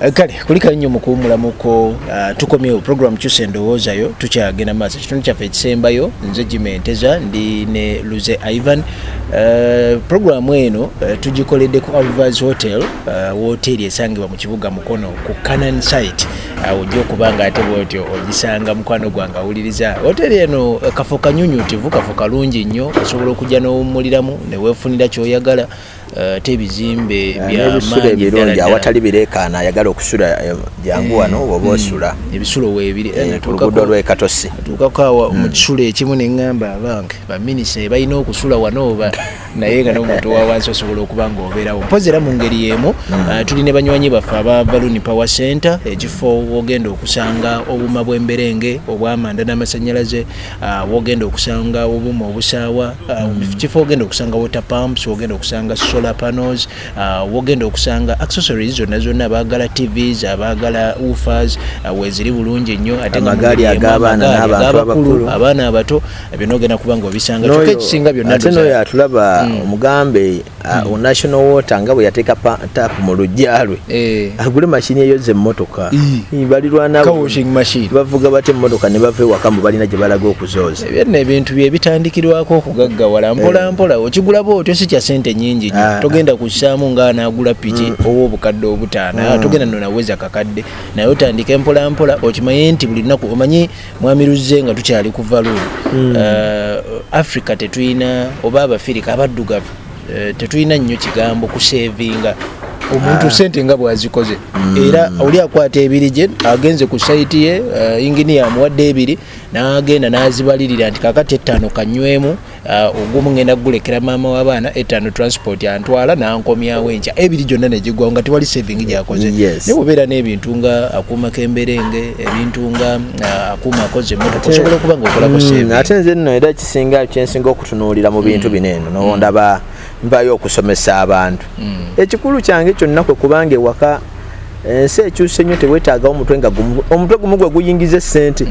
Eh, kale kulikayo nnyo mukuwumulamuko uh, ah, tukomyewo program kyusa endowoozayo tukyagenda maaso ekitundu kyaffe ekisembayo nze jimenteza ndi ne luze ivan uh, eh, programu eno uh, eh, tugikoledde ku alvas hotel uh, woteeri esangibwa mu kibuga mukono ku canan site awo uh, ojja okuba nga ate bwotyo ogisanga mukwano gwange awuliriza hoteeri eno uh, kafo kanyunyutivu kafo kalungi nnyo osobola okujja n'owummuliramu neweefunira kyoyagala Eh, ate ebizimbe eh, byebisula ebirungi awatali bireekaana ayagala okusula eh, jangu wano oba hmm. osula ebisulo weebirioluguudo lwekatosi atuukako awa hmm. mu kisulo ekimu ne ŋŋamba abange baminisa balina okusula wano oba naye nga nomuntu wawansi osobola okuba nga obeerawo mpozi era mu ngeri y'emu hmm. tuli ne banywanyi baffe aba baluni power center ekifo wogenda okusanga obuuma bw'emberenge obwamanda n'amasannyalaze Ah, wogenda okusanga obuma obusaawa ah, mm. kifo ogenda okusanga water pumps wogenda okusanga solar panels ah, wogenda okusanga accessories zonna zonna abaagala tvs abaagala ufers weziri bulungi nnyo ateamagaali agaabaanabakulu abaana abato byonna ogenda kuba nga obisanga kyoka ekisinga byonna atulaba mm. omugambe Ah, hmm. national water nga bwe yateeka tap mu lujja lwe eh. agule mashini eyoza emmotoka balirwanabavuga bati emmotoka ne bava ewaka mu balina gye balaga okuzooza byonna ebintu bye bitandikirwako okugaggawala mpolampola eh. okigulaba otyo si kya sente nyingi nyo ah, ah. togenda kussaamu nga anaagula piki hmm. owa obukadde obutaana hmm. togenda nonaweza kakadde naye otandika empolampola okimaye nti buli lunaku omanyi mwami luzze nga tukyali ku valu hmm. eh, africa tetulina oba abafirika abaddugavu eh, tetulina nnyo kigambo kusevinga omuntu ah. sente nga bwazikoze hmm. era oli akwata ebiri gye agenze ku saiti ye eh, inginiya amuwadde ebiri n'agenda n'azibalirira nti kakati ettaano kanywemu Ah, ogumu ngenda gulekera maama w'abaana etaano transport antwala nankomyawo enkya ebiri gyonna negigwawo nga tewali saving gyakoze ne bubeera n'ebintu nga akuuma kemberenge ebintu nga ah, akuuma akoze emotoka osobola okuba nga okolako mm, saving ate nze nno era kisinga kyensinga okutunuulira mu bintu mm. bino eno nowondaba mm. nvayo okusomesa abantu ekikulu kyange kyonna kwe kubanga ewaka ensi ekyuse nnyo tewetaagawo omutwe nga omutwe gumu gwe guyingiza essente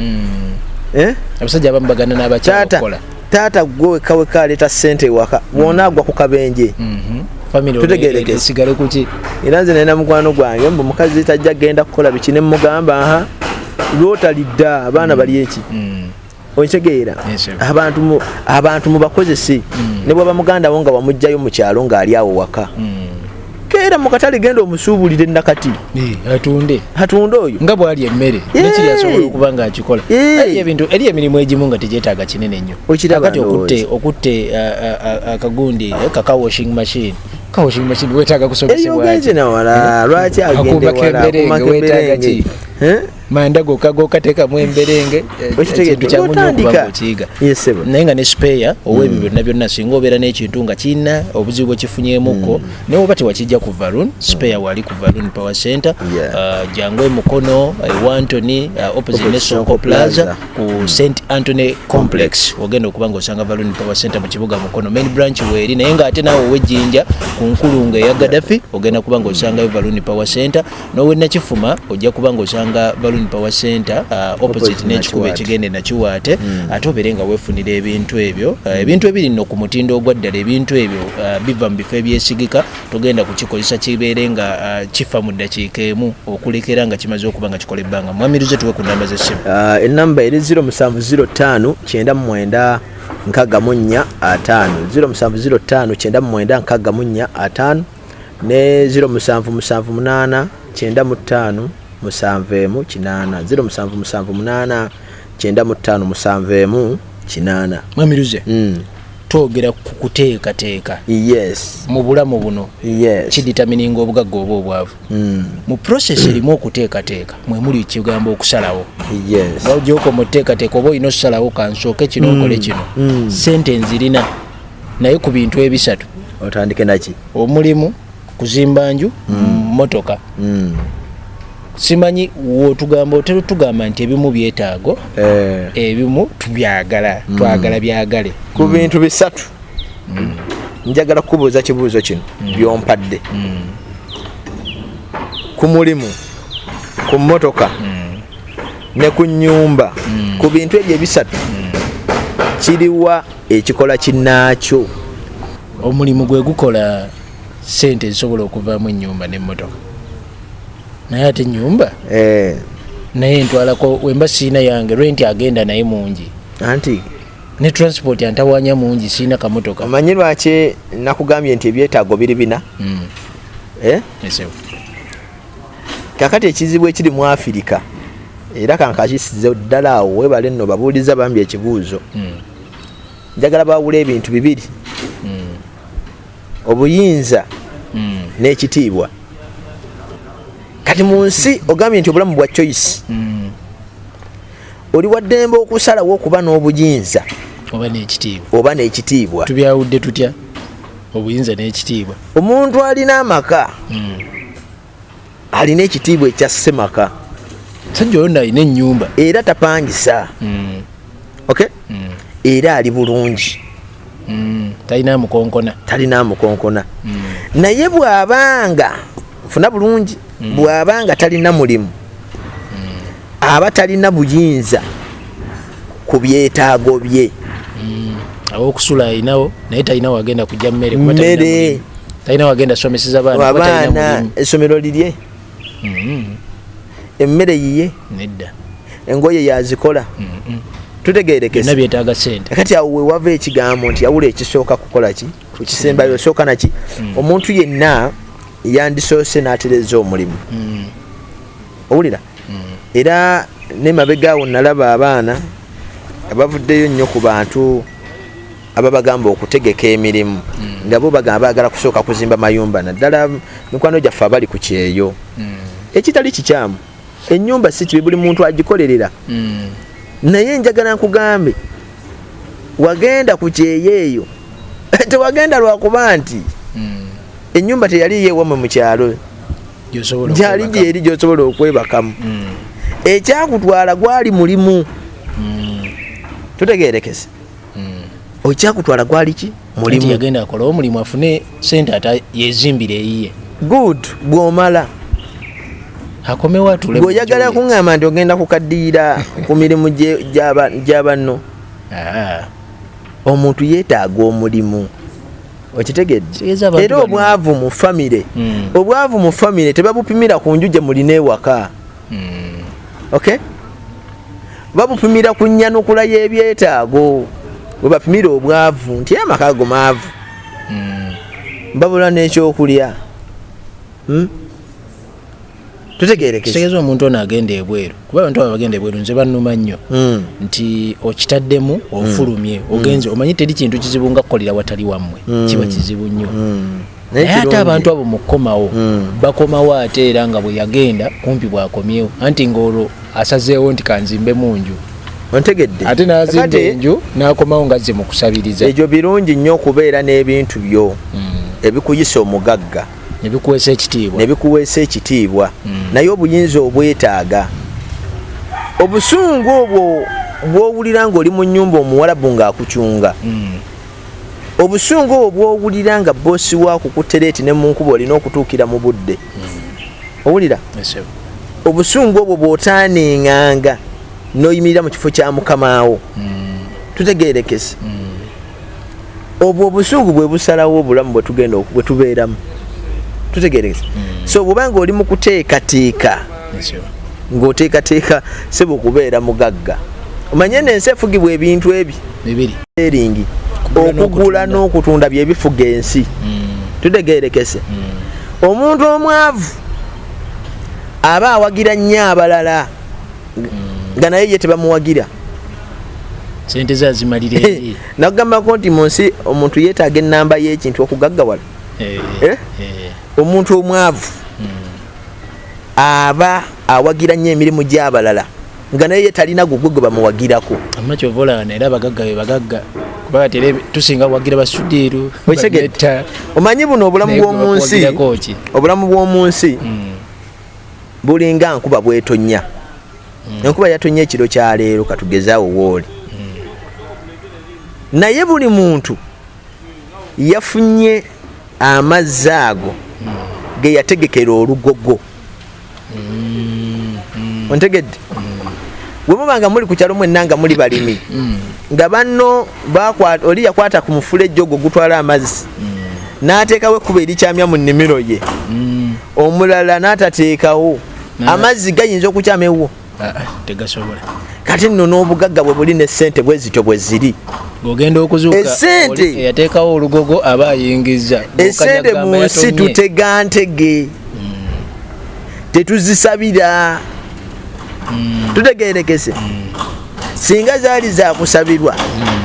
eh? abasajja abamu bagana n'abakyakola taata gwe wekka wekka aleeta ssente ewaka wona agwa ku kabenje mhm. tutegerekesigale kuki era nze nalina mukwano gwange mbu mukazi tajja genda kukola biki ne mugamba aha lwotalidda abaana bali eki mm. okitegeera abantu mubakozese mm. ne bwaba muganda wo nga wamugjayo mu kyalo ng'ali awo waka mm. keera mu katale genda omusuubulire nakati atunde atunde oyo nga bwali emmere nekiri asobola okuba nga akikola ebintu eri emirimu egimu nga tegyetaaga kinene nnyo kati okutte okutte akagundi eh, kaka washing machine kawashing machine wetaaga kusomesebwa eyo ogenze nawala eh? lwaki agende wala kumakemberenge manda goka goka teka mu emberenge ekintu kya munyo okuba okiyiga naye nga ne spare ow'ebibyo mm. nabyo nasinga obeera n'ekintu nga kirina obuzibu bwekifunyemuko mm. naye oba tewakijja ku valoon spare mm. wali ku valoon power center uh, jangu emukono ewantony uh, uh, opposite ne sonko plaza ku st antony complex ogenda okuba nga osanga valoon power center mu kibuga mukono main branch weeri naye nga ate naawe ow'ejjinja ku nkulunga eya gadafi ogenda kuba nga osangayo valoon power center nowe nakifuma ojja kuba nga osanga balloon power center uh, opposite nekikuba ekigende nakiwaate mm. ate obere nga wefunira ebintu ebyo uh, hmm. ebintu ebiri no ku mutindo ogwaddala ebintu ebyo uh, biva mu bifo ebyesigika togenda kukikozesa kibeere nga uh, kifa mu ddakiika emu okulekera nga kimaze okuba nga kikola ebbanga mwamiruze tuwe ku namba z'essimu uh, enamba eri 0 musanvu 0 5 kyenda mu mwenda nkaga mu nnya ataano 0 musanvu 0 5 kyenda mu mwenda nkaga mu nnya ataano ne 0778 kyenda mu ttaano musanvu emu kinaana ziro musanvu musanvu munaana kyenda mu ttaano musanvu emu kinaana mwamiruze mm. twogera ku kuteekateeka yes mu bulamu buno yes kiditamininga obugagga oba obwavu mm. mu process erimu okuteekateeka mwe muli ekigambo okusalawo yes ogyoko mu teekateeka oba olina okusalawo kansooke kino mm. okole kino mm. sente nzirina naye ku bintu ebisatu otandike naki omulimu kuzimba nju mm. motoka mm. simanyi wotugamba otera otugamba nti ebimu byetaago eh. ebimu tubyagala mm. twagala byagale ku bintu bisatu mm. njagala kukubuuza kibuuzo kino mm. byompadde mm. ku mulimu ku motoka mm. ne ku nyumba mm. ku bintu ebyo ebisatu mm. kiriwa ekikola kinaakyo omulimu gwe gukola sente ezisobola okuvaamu enyumba nemotoka naye ate enyumba eh. naye ntwalako wemba siina yange renti agenda naye mungi anti ne transport antawanya mungi siina kamotoka omanyi lwaki nakugambye nti ebyetaago biri bina mm. eh? yes, kakati ekizibu ekiri mu afirika era kankakisize ddala awo webale nno babuuliza bambi ekibuuzo hmm. njagala bawula ebintu bibiri hmm. obuyinza hmm. n'ekitiibwa kati mu nsi ogambye nti obulamu bwa choice oli waddembe okusalawo okuba n'obuyinza oba n'ekitiibwa tubyawudde tutya obuyinza n'ekitiibwa omuntu alina amaka alina ekitiibwa ekya semaka sajja oyo nalina ennyumba era tapangisa mm. okay mm. era ali bulungi mm. talina mukonkona talina mukonkona mm. naye bwabanga nfuna bulungi mm. bwabanga talina mulimu aba talina buyinza ku byetaago bye mm, awokusula alinawo naye talina wagenda kujja mmere mmere talina wagenda someseza baana abaana essomero lirye mm-hmm. emmere yiye nedda engoye yazikola mm-hmm. tutegerekesa byetaaga sente kati awo wewava ekigambo nti yawula ekisooka kukola ki ekisembayo osooka naki mm. omuntu yenna yandisoose n'atereza omulimu mm. owulira era ne mabega awo nalaba abaana abavuddeyo nnyo ku bantu ababagamba okutegeka emirimu mm. nga bo bagamba bagala kusooka kuzimba mayumba naddala mikwano gyaffe abali ku kyeyo mm. ekitali kikyamu enyumba si kibi buli muntu agikolerera mm. naye njagala nkugambe wagenda ku kyeyo eyo tewagenda lwakuba nti enyumba teyali yewamwe mu kyalo gyali gyeri gyosobola okwebakamu mm. ekyakutwala gwali mulimu mm. tutegerekese mm. okyakutwala gwali ki mulimu yagenda akola omulimu afune sente ata yezimbire eyiye good bwomala akomewatulebweoyagala kuŋŋamba nti ogenda kukaddiira ku mirimu gya banno ah. omuntu yeetaaga omulimu okitegedde era obwavu mu famire mm. obwavu mu famire tebabupimira ku nju gye mulina ewaka mm. ok babupimira ku nyanukula y'ebyetaago webapimira obwavu nti amaka ago maavu mm. babula n'ekyokulya hmm? tutegeerekekitegeeza omuntu ono agenda ebweru kuba abantu abo bagenda ebweru nze bannuma nnyo hmm. nti okitaddemu hmm. ofulumye hmm. ogenze omanyi teri kintu kizibu nga kukolera watali wammwe kiba kizibu nnyo naye ate abantu abo mukukomawo bakomawo ate era nga bwe yagenda kumpi bwakomyewo anti ngaolwo asazeewo nti kanzimbe mu nju ontegedde ate nazimba enju nakomawo nga ze mukusabiriza ekyo birungi nnyo okubeera n'ebintu byo ebikuyisa omugagga nebikuweesa ekitiibwa nebikuweesa ekitiibwa mm. naye obuyinza obwetaaga obusungu obwo bwowulira nga oli mu nyumba omuwalabu ngaakucunga mm. obusungu obwo bwowulira nga bosi wakukutereeti ne munkuba olina okutuukira mu budde mm. owulira obusungu obwo bwotaanenganga noyimirira mu kifo kya mukamaawo mm. tutegerekese mm. obwo obusungu bwe busalawo obulamu bwe tugenda bwe tubeeramu tutegeereza hmm. so bwobanga oli mu kuteekateeka ng'oteekateeka sebo kubeera mugagga omanye nensi efugibwa ebintu ebi eringi okugula n'okutunda byebifuga ensi hmm. tutegeerekese hmm. omuntu omwavu aba awagira nnyo abalala nga naye ye tebamuwagira sente ze azimalira eri nakugambako nti mu nsi omuntu yeetaaga ennamba y'ekintu okugaggawala eh, eh? Eh. omuntu omwavu hmm. aba awagira nnyo emirimu gy'abalala nga naye ye talina gugwe gwe bamuwagirako amma kyova olaba naera abagagga be bagagga kubanga tere tusinga kuwagira basudiiru omanyi buno obulamu bw'omu nsi obulamu bw'omu nsi hmm. bulinga nkuba bwetonya mm. enkuba yatonya ekiro kya leero katugezaawo wooli mm. naye buli muntu yafunye amazzi ago mm. ge yategekera olugogo mm. ontegedde mm. wemuba nga muli ku kyalo mwenna nga muli balimi mm. nga banno oli yakwata ku mufulejje ogwo gutwala amazzi mm. n'ateekawo ekkuba erikyamya mu nnimiro ye mm. omulala n'atateekawo amazzi gayinza okukyama ewwo ah, ah, tegasobola kati nno n'obugagga bwe buli n'essente bwe zityo bwe ziri ogenda okuzuukaeyateekawo olugogo aba ayingiza esente mu nsi tutega ntege mm. tetuzisabira mm. tutegerekese singa zaali zakusabirwa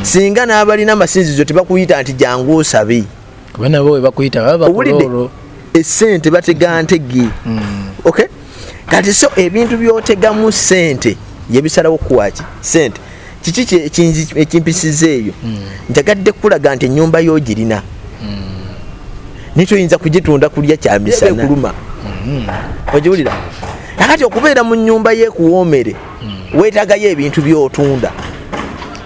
singa n'abalina amasinzizo tebakuyita nti jangu osabe owulidde esente batega ntege mm. okay kati so ebintu byotegamu sente yebisalawo kuwaki sente kiki ekimpisiza eyo mm. njagadde kukulaga nti enyumba yogirina mm. nikyoyinza kugitunda kulya kyamisanakuluma ogiwulira akati okubeera mu nyumba yekuwomere hmm. wetagayo ebintu byotunda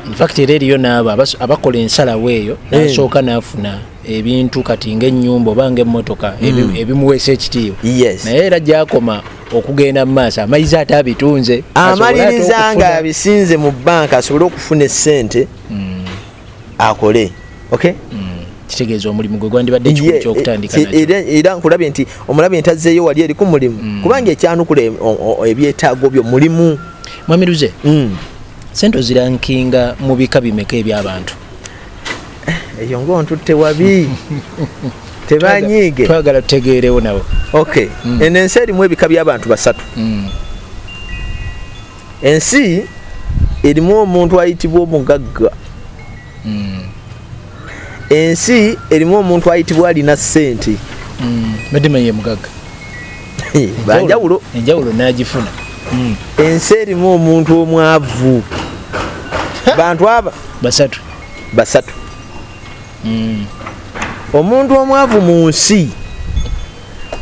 infact era eriyo naabo abakola ensalawo eyo hmm. nasooka nafuna ebintu kati ngaenyumba oba ngaemotoka hmm. ebimuweesa ekitiibwa naye era gyakoma okugenda mu maaso amayiza ate abitunze amaliriza nga abisinze mu banka asobole okufuna esente akole okay mm. kitegeeza omulimu gwe gwandibadde kikulu kyokutandika era nkulabye nti omulabye nti azzeeyo wali eriku mulimu mm. kubanga ekyanukula e, ebyetaago byo mulimu mwami luze mm. sente ozirankinga mu bika bimeka ebyabantu eh, eyo ngaontutte wabi tebanyiige twagala tutegeerewo nawe ok mm. eno ensi erimu ebika by'abantu basatu ensi erimu omuntu ayitibwa omugagga hmm. ensi erimu omuntu ayitibwa alina sente hmm. badimaye mugagga banjawulo enjawulo nagifuna hmm. ensi erimu omuntu omwavu bantu aba basatu basatu omuntu omwavu mu nsi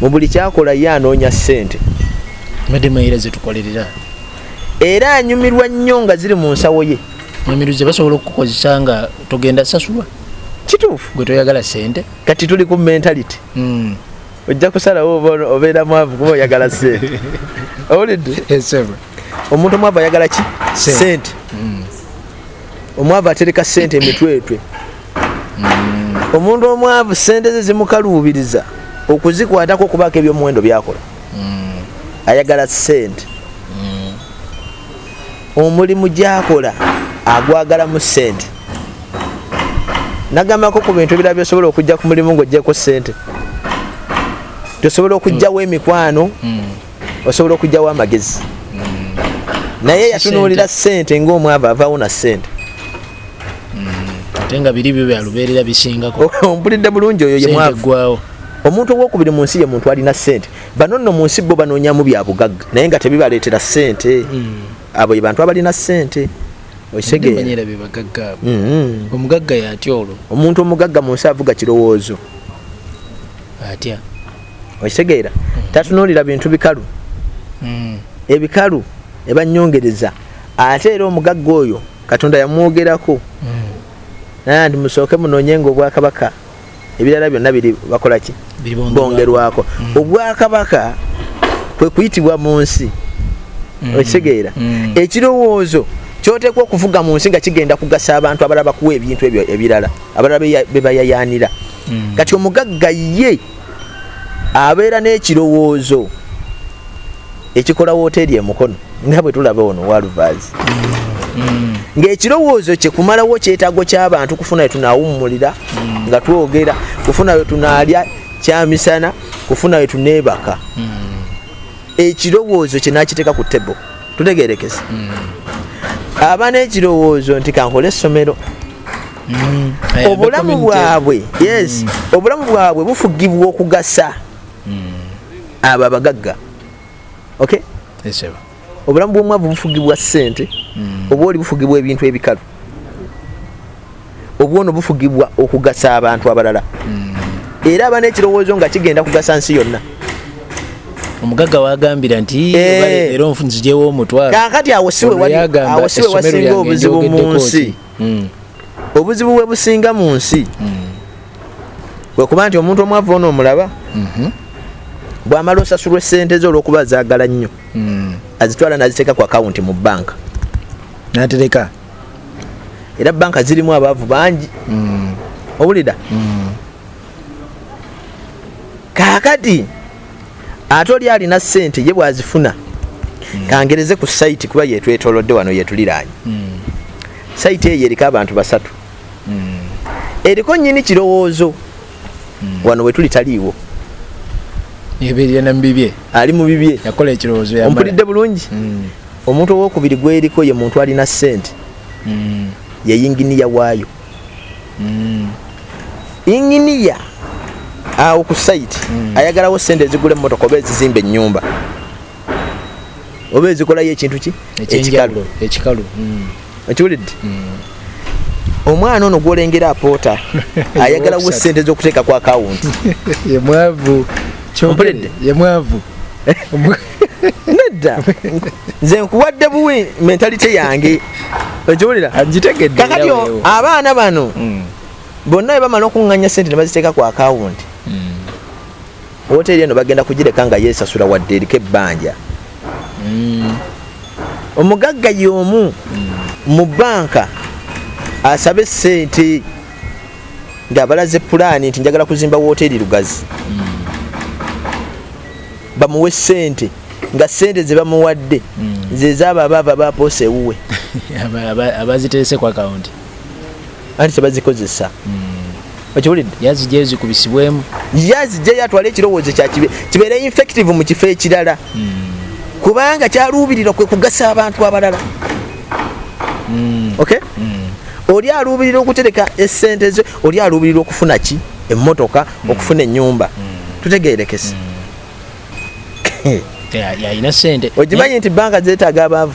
mu buli kyakola ye anoonya ssente mademayira zetukolerera era anyumirwa nnyo nga ziri mu nsawo ye nyumiruze basobola okukukozesa nga togenda sasulwa kituufu gwe toyagala sente kati tuli ku mentality hmm. ojja kusalawo obeera mwavu kuba oyagala sente owulidde omuntu omwavu ayagala ki sente hmm. omwavu atereka sente emitwetwe mm. omuntu omwavu sente ze zimukaluubiriza okuzikwatako okubaako ebyomuwendo byakola mm. ayagala sente mm. omulimu gyakola agwagala mu sente nagambako ku bintu ebirala byosobola okujja ku mulimu ngaojjeko sente tosobola okujjawo emikwano osobola okugyawo amagezi naye yatunuulira sente ngaomwava avaawo na sente ate nga biri byo byalubeerera bisingako ompulidde bulungi oyo yemwagwawo omuntu owokubiri mu nsi ye muntu alina sente bano nno mu nsi bo banoonyamu bya bugagga naye nga tebibaleetera sente hmm. abo ye bantu abalina sente okitegera hmm. omugagga yatya olwo omuntu omugagga mu nsi avuga kirowoozo atya okitegeera tatunuulira bintu bikalu hmm. ebikalu ebanyongereza ate era omugagga oyo katonda yamwogerako hmm. naye nti musooke munoonye nga obwakabaka ebirala byonna biri bakola ki bongerwako hmm. obwakabaka kwe kuyitibwa mu nsi okitegeera ekirowoozo kyoteekwa okuvuga mu nsi nga kigenda kugasa abantu abalala bakuwa ebintu ebyo ebirala abalala bebayayaanira kati omugagga ye abeera n'ekirowoozo ekikola wooteeri emukono nga bwe tulaba ono walvas mm. ng'ekirowoozo kye kumalawo kyetaago ky'abantu kufuna we tunaawummulira mm. nga twogera kufuna we tunaalya kyamisana kufuna we tuneebaka mm. ekirowoozo kye n'akiteeka ku tebo tutegerekese aba n'ekirowoozo nti kankole essomero mm. eh, obulamu bwabwe yes mm. obulamu bwabwe bufugibwa okugasa mm. abo abagagga okay yes, obulamu bwomwavu bufugibwa sente mm. oba oli bufugibwa ebintu ebikalu obwono bufugibwa okugasa abantu abalala mm. era aba nekirowoozo nga kigenda kugasa nsi yonna omugagga wagambira nti eh. era nzijewo omutwalo kakati awo siwe wasinga obuzibu mu nsi hmm. obuzibu bwe businga mu nsi hmm. wekuba nti omuntu omwavu ono omulaba mhm. bwamala osasulwa esente ze olwokuba zagala nnyo hmm. azitwala naziteeka ku akawunti mu banka natereka era banka zirimu abaavu bangi owulira kakati ate oli alina sente ye bwazifuna mm. kangereze ku site kuba yetwetolodde wano yetuliraanye mm. site eyo eriko abantu basatu mm. eriko nyini kirowoozo mm. wano wetuli taliiwo ebiryanamubibye ali mu bibye yakola ekirowoozo ompulidde bulungi mm. omuntu owokubiri gweriko ye muntu alina sente mm. yeyinginiya waayo mm. inginiya awo ku site mm. ayagalawo sente ezigula emotoka oba ezizimba enyumba oba ezikolayo ekintu ki ekikalu ekikalu mm. okiwulidde mm. omwana ono gwolengera apoota ayagalawo sente zokuteeka ku akawunti yemwavu kyompulidde yemwavu nedda nze nkuwadde buwi mentalite yange okiwulira kakati abaana bano hmm. bonna bebamala okuŋŋanya sente ne baziteeka ku akawunti hmm. woteri eno bagenda kugireka nga yesasula wadde eriko ebbanja hmm. omugagga yomu mu banka asabe sente ngaabalaze pulaani nti njagala kuzimba woteri lugazi bamuwe sente nga sente zebamuwadde mm. zezaabo abaava bapoosa ewuwe abaziterese ku akawunti anti tebazikozesa mm. okiwulidde yazijja ezikubisibwemu yazijjayo atwale ekirowoozo kyakibe kibeere infective mu kifo ekirala mm. kubanga kyaluubirira kwe kugasa abantu abalala mm. okay mm. oli aluubirira okutereka esente ze oli aluubirira okufuna ki mm. emmotoka mm. okufuna ennyumba mm. tutegerekese mm. yalina sente okimanyi nti banka zetaaga abaavu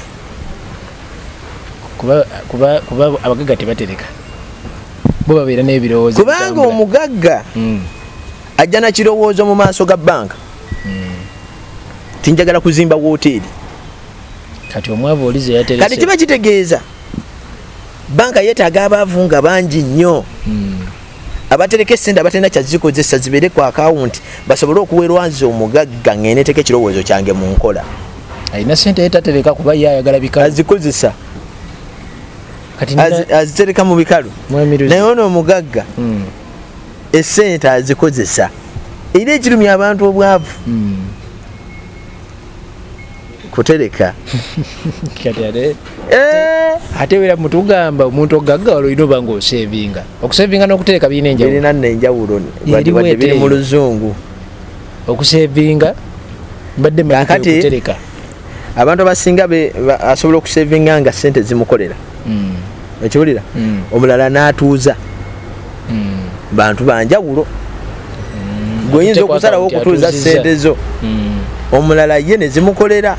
kuba abagagga tebatereka bo babeera n'ebirowoozo kubanga omugagga ajja na kirowoozo mu maaso ga banka tinjagala kuzimba woteeri kati omwavu olize yaterese kati kiba kitegeeza banka yetaaga abaavu nga bangi nnyo hmm. abatereka esente abatalina kyazikozesa zibeere ku akawunti basobole okuwerwa nze omugagga ngeneteka ekirowoozo kyange mu nkola alina sente yetatereka kuba ye ayagala bikalu azikozesa azitereka mu bikalu naye ono omugagga hmm. esente azikozesa era ekirumya abantu obwavu hmm. kutereka eh! ate era mutugamba omuntu ogagga olina oba nga osevinga okusevinga nokutereka birina enjawulolina nenjawulo biri mu luzungu okusevinga mbadde makutereka abantu abasinga asobola okusevinga nga sente zimukolera hmm. okiwulira mm. omulala n'atuuza mm. bantu banjawulo mm. gweoyinza okusalawo okutuuza sente zo mm. omulala ye nezimukolera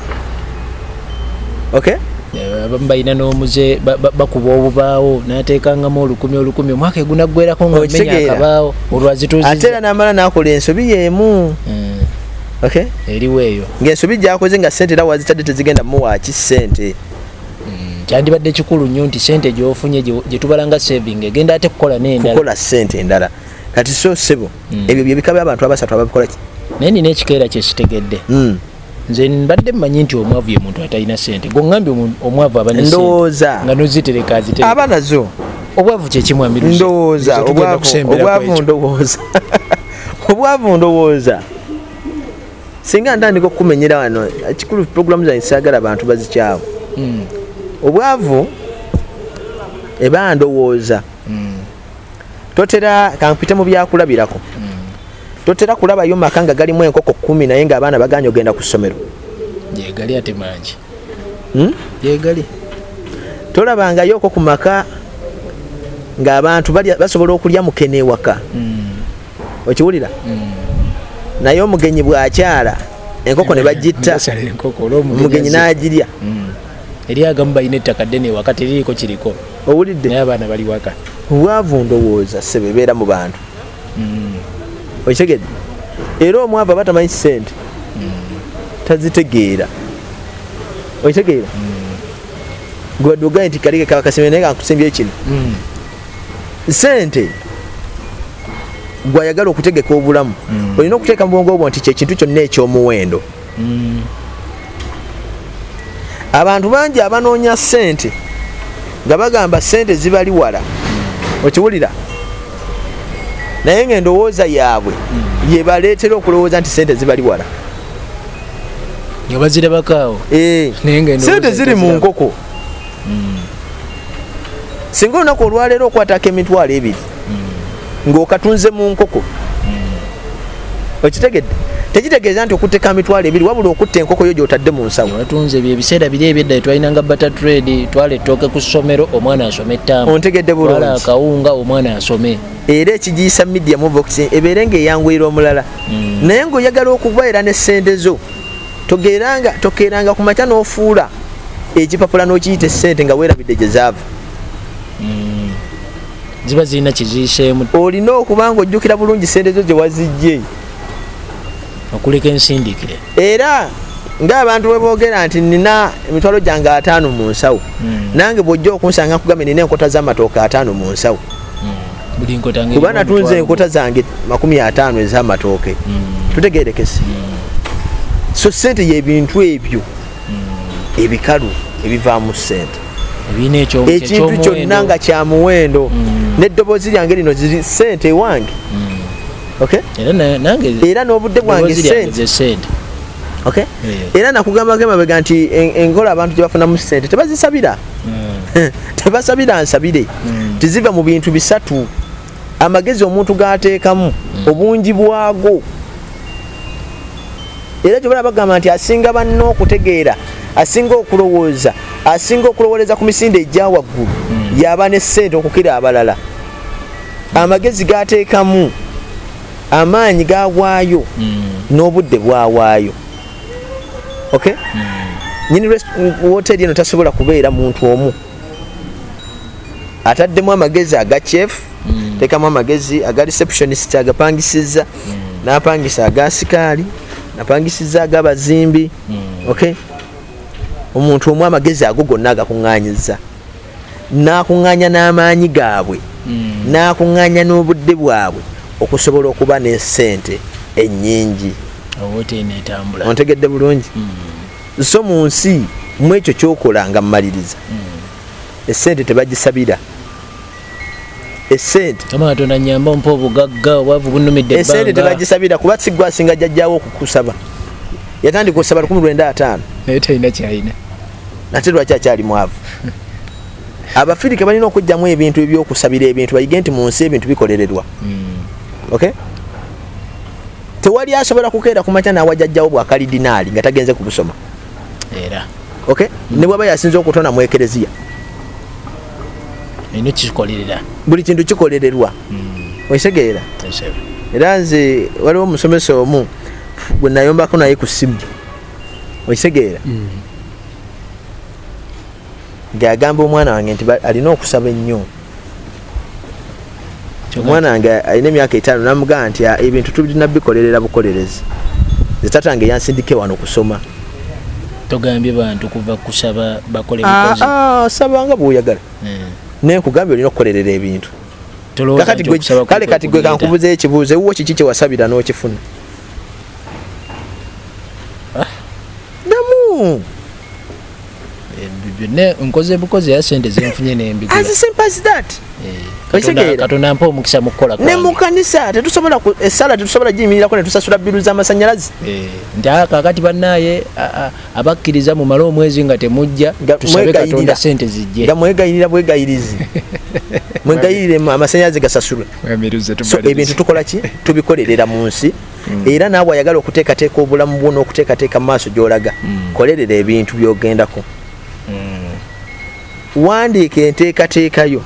ok eh, abamu balina n'omuze bakuba obubaawo nateekangamu olukumi olukumi omwaka egunaggwerako nga omenya akabaawo olwazituuzi ate era namala nakola ensobi yeemu mm. eriwo eyo ngaensobi gyakoze nga sente era wazitadde tezigenda muwaaki sente Mm, kyandibadde kikulu nnyo nti sente gyofunye gyetubalanga saving egenda ate kukola nendalakukola sente endala kati so sebo mm. ebyo byebika byabantu abasatu ababikola ki naye nina ekikeera kyesitegedde mm. nze mbadde mmanyi nti omwavu ye muntu atalina sente gwongambye omwavu abanndowooza nga nozitereka zite abaana zo obwavu kyekimwambirdowooza obwavu ndowooza obwavu ndowooza singa ntandika okukumenyera wano ekikulu puroguramu zange saagala bantu bazikyawo hmm. obwavu eba ndowooza hmm. totera kankupite mu byakulabirako hmm. totera kulabayo maka nga galimu enkoko kumi naye nga abaana baganya ogenda ku ssomero yegali ate mangi yegali tolabangayo oko ku maka ng'abantu basobola okulya mukene ewaka okiwulira mm. naye omugenyi bwakyala enkoko ne bagitta omugenyi n'agirya mm. eri agamu balina ettaka ddene ewaka teririiko kiriko owulidde naye abaana bali waka obwavu ndowooza sebe beera mu bantu mm. okitegedde era omwavu aba tamanyi sente tazitegeera okitegeera mm. gwe dugaye nti kalike kaba kasembe naye kankusembye kino mm. sente gwayagala okutegeka obulamu mm. olina okuteeka mu bwongo obwo nti kyekintu kyonna ekyomuwendo mm. abantu bangi abanoonya sente nga bagamba sente zibali wala mm. okiwulira naye nga endowooza yaabwe mm. yebaleetera okulowooza nti sente zibali wala nga bazirabakaawo eh. sente ziri mu nkoko singa olunaku olwaleero okwatako emitwalo ebiri ngaokatunze mu nkoko okitegedde tekitegeeza nti okutteka amitwalo ebiri wabula okutta enkoko yo gyotadde mu nsawoatunze ebyo ebiseera biri ebyedda etwalinanga bata trade twala ettooke ku ssomero omwana asome ettamu ontegedde bulungi akawunga omwana asome era ekigiyisa media muvox ebeere nga eyanguyira omulala hmm. naye ngaoyagala okuva era ne ssente zo togeranga tokeranga ku makya n'ofuula ekipapula n'okiyita essente nga weerabidde gye zaava hmm. ziba zirina kiziiseemu olina okuba nga ojjukira bulungi sente zo gye wazijje okuleka ensindikire era ngaabantu bwe boogera nti nina emitwalo gyange ataano mu nsawo hmm. nange bw'ojja okunsanga nkugambye nina enkota z'amatooka ataano mu nsawo kuba natunze enkota zange makumi ataano ezamatooke mm. tutegerekese mm. so sente yebintu ebyo mm. ebikalu ebivaamu sente ekintu kyonna nga kyamuwendo neddoboozi lyange lino ziri sente ewange era n'obudde bwange sente era nakugambako emabega nti enkola abantu gyebafunamu sente tebazisabira hmm. tebasabira nsabire hmm. tiziva mu bintu bisatu amagezi omuntu gateekamu hmm. obungi bwago era kyobala bagamba nti asinga banna okutegeera asinga okulowooza asinga okulowooleza ku misinde egya waggulu yaba ne ssente okukira abalala amagezi gateekamu amaanyi gawaayo n'obudde bwawaayo okay mm. nyini woteri eno tasobola kubeera muntu omu ataddemu amagezi aga chef mm. tekamu amagezi aga receptionist agapangisiza mm. napangisa aga sikaali napangisiza aga bazimbi mm. okay omuntu omu amagezi ago gonna agakuŋŋanyiza n'akuŋŋaanya n'amaanyi gaabwe hmm. n'akuŋŋaanya n'obudde bwabwe okusobola okuba n'essente ennyingi ontegedde bulungi hmm. so mu nsi mu ekyo kyokola nga mumaliriza hmm. essente tebagisabira esente tebagisabira kuba sigwasinga jajjawo okukusaba yatandika osaba 15 nate lwaki akyali mwavu abafirika balina okujjamu ebintu ebyokusabira ebintu bayige nti mu nsi ebintu bikolererwa hmm. okay tewali asobola kukeera kumakya nawajajjawo bwakalidinaali nga tagenze kubusoma era okay hmm. ne bwaba yasinza okutona mu ekereziya buli kintu kikolererwa hmm. okitegeera era nze waliwo omusomesa omu gwe nayombako naye ku simu okitegeera mm. ng'agamba omwana wange nti alina okusaba ennyo omwana wange alina emyaka etaano namugamba nti ah, ebintu tulina bikolerera bukolerezi zetata nge yansindike wano kusoma togambye bantu kuva kusaba bakole ah, ah, saba nga bwoyagala eh. naye nkugambye olina okukolerera ebintu kale kati gwe kankubuza ekibuuzo ewuwo kiki kyewasabira n'okifuna ah, damu eh, byonna nkoze bukozi era sente zenfunye nembigulakatonda mpa omukisa mukukola ne mu kanisa tetusobola esala eh, tetusobola giyimirirako netusasula biru z'amasanyalazi eh, nti ah, kakati bannaye abakkiriza mumale omwezi nga temujja tusabe katonda sente zijje nga mwegayirira bwegayirizi mwegayirire amasanyalazi gasasulwe so ebintu tukola ki tubikolerera mu nsi mm. era naawe ayagala okuteekateeka obulamu bwo n'okuteekateeka mu maaso gy'olaga mm. kolerera ebintu by'ogendako mm. wandiika enteekateeka yo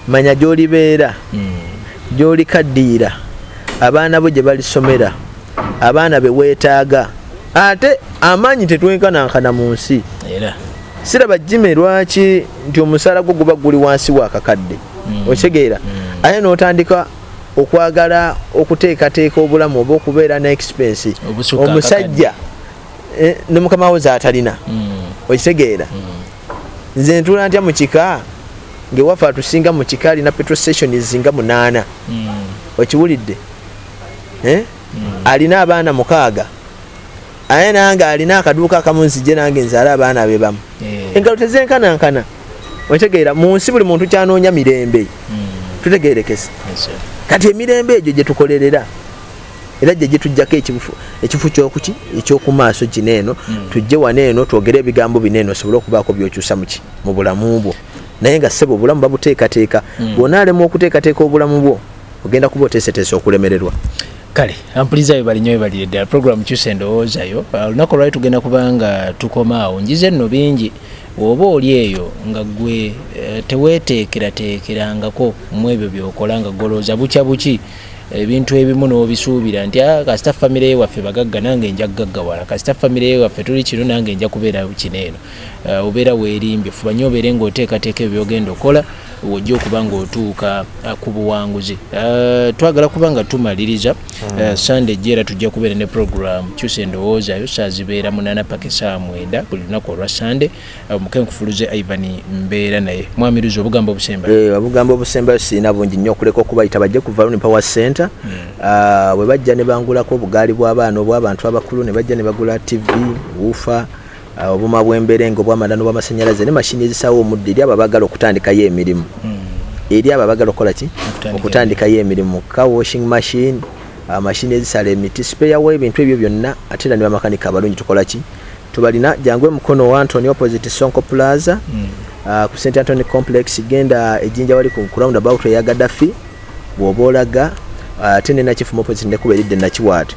manya gy'olibeera gy'olikaddiira abaana bo gye balisomera abaana be weetaaga ate amaanyi tetwenkanankana mu nsi siraba jime lwaki nti omusaala gwo guba guli wansi wakakadde mm. okitegeera mm. ate n'otandika okwagala okuteekateeka obulamu oba okubeera ne expense omusajja eh, ne mukama wo zaatalina mm. okitegeera nze ntula ntya mu kika ngaewafe atusinga mu kika alina petro stations nga munaana okiwulidde eh? alina abaana mukaaga aye nange alina akaduuka akamu nzije nange nzaala abaana be bamu eh. engalo tezenkanankana otegeera mu nsi buli muntu kyanoonya mirembe hmm. tutegeerekesa kati emirembe egyo gye tukolerera era gye gitujjako ekifu kyokuki ekyokumaaso kino eno hmm. tujje wano eno twogere ebigambo bino eno osobole okubaako byokyusa muki mu bulamu bwo naye nga ssebo obulamu babuteekateeka hmm. bwona alemu okuteekateeka obulamu bwo ogenda kuba oteeseteesa okulemererwa kale ampuliza webali nyo webalire ddala program kyusa endowoozayo ah, olunaku olwali tugenda kubanga tukoma awo njize nno bingi oba oli eyo nga gwe eh, teweteekerateekerangako mu ebyo byokola nga golooza bukya buki ebintu ebimu n'obisuubira nti ah, kasita famire ye waffe bagagga nange nja kugaggawala kasita famire ye waffe tuli kino nange nja kubeera kino eno uh, obeera weerimbye fuba nyo obeere ng'oteekateeka ebyo byogenda okukola wojja okuba ng'otuuka uh, ku buwanguzi uh, twagala kuba nga tumaliriza uh, sande ejja era tujja kubeera ne program kyusa endowooza yo saazibeera munana paka esaa mwenda buli lunaku olwa sande omukenkufuluze uh, ivan mbeera naye mwamiruzi obugambo obusemba hey, eh, obugambo obusembayo sirina bungi nnyo okuleka okubayita bajje ku valoni power center hmm. uh, bwe bajja ne bangulako obugaali bw'abaana obw'abantu abakulu ne bajja ne bagula tv wuufa obuma bwemberenga obwamanda nobwamasanyalaze ne mashini ezisawo omuddo eri abo abagala okutandikayo emirimu hmm. eri abo abagala okukola ki okutandikayo emirimu car washing machine ah, mashini ezisala emiti sipeyawo ebintu ebyo byonna ate era nibamakanika abalungi tukola ki tubalina jangu emukono wa antony opposite sonko plaza hmm. ah, ku st antony complex genda ejinja wali ku round about eya gadafi bwoba olaga ah, ate nenakifumu opposite nekuba eridde nakiwaata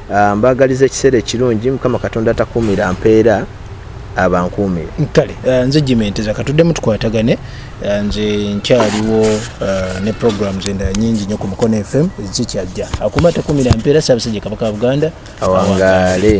Ah, mbagaliza ekiseera ekirungi mukama katonda takuumira mpeera abankuumire kale ah, nze jimenteza katuddemu tukwatagane ah, nze nkyaliwo ne programs endala nyingi nyo ku mukono fm ezikyajja akuma takumira mpeera saabasajja kabaka wa buganda awangaale